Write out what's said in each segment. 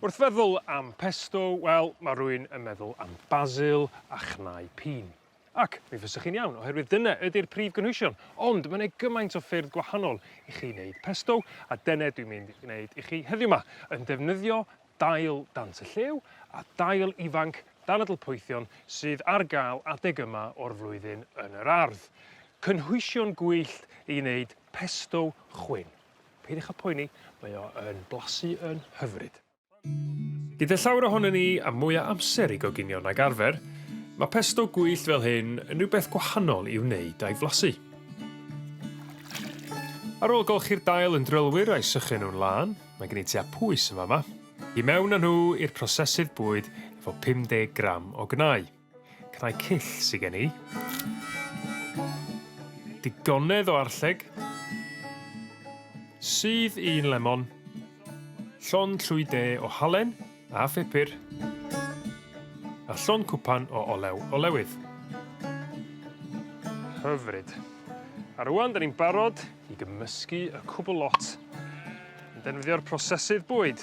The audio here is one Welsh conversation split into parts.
Wrth feddwl am pesto, wel, ma' rywun yn meddwl am basil a chnau pîn. Ac mi fysech chi'n iawn oherwydd dyne ydi'r prif gynhwysion ond ma' 'ne gymaint o ffyrdd gwahanol i chi neud pesto a dene dwi'n mynd i gneud i chi heddiw 'ma yn defnyddio dail dant y llew a dail ifanc danadl poethion sydd ar ga'l adeg yma o'r flwyddyn yn yr ardd. Cynhwysion gwyllt i neud pesto chwyn. Peidiwch â phoeni mae o yn blasu yn hyfryd. Gyda llawer ohonon ni a mwy o amser i goginio nag arfer ma' pesto gwyllt fel hyn yn rwbeth gwahanol i'w wneud a'i flasu. Ar ôl golchi'r dail yn drylwyr a'i sychu nw'n lân mae gen i tua pwys yn fa' 'ma. I mewn â nhw i'r prosesydd bwyd efo 50 gram o gnau. Cnau cyll sy gen i. Digonedd o arlleg. Sudd un lemon. Llond llwy de o halen a phupur. A llond cwpan o olew olewydd. Hyfryd. A rwan 'dan ni'n barod i gymysgu y cwbl lot yn defnyddio'r prosesydd bwyd.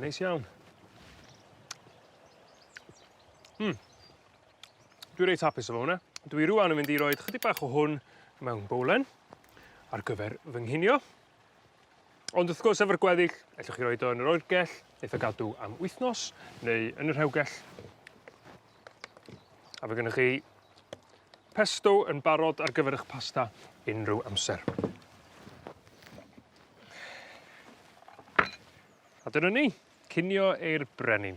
Neis iawn. Hmm. Dwi reit hapus efo hwnna. Dwi rŵan yn mynd i roed chydig bach o hwn mewn bowlen ar gyfer fy nghinio. Ond wrth gwrs efo'r gweddill, ellwch chi roed o yn yr oergell, eitha gadw am wythnos, neu yn y rhewgell. A fe gennych chi pesto yn barod ar gyfer eich pasta unrhyw amser. A dyna ni, cinio i'r brenin.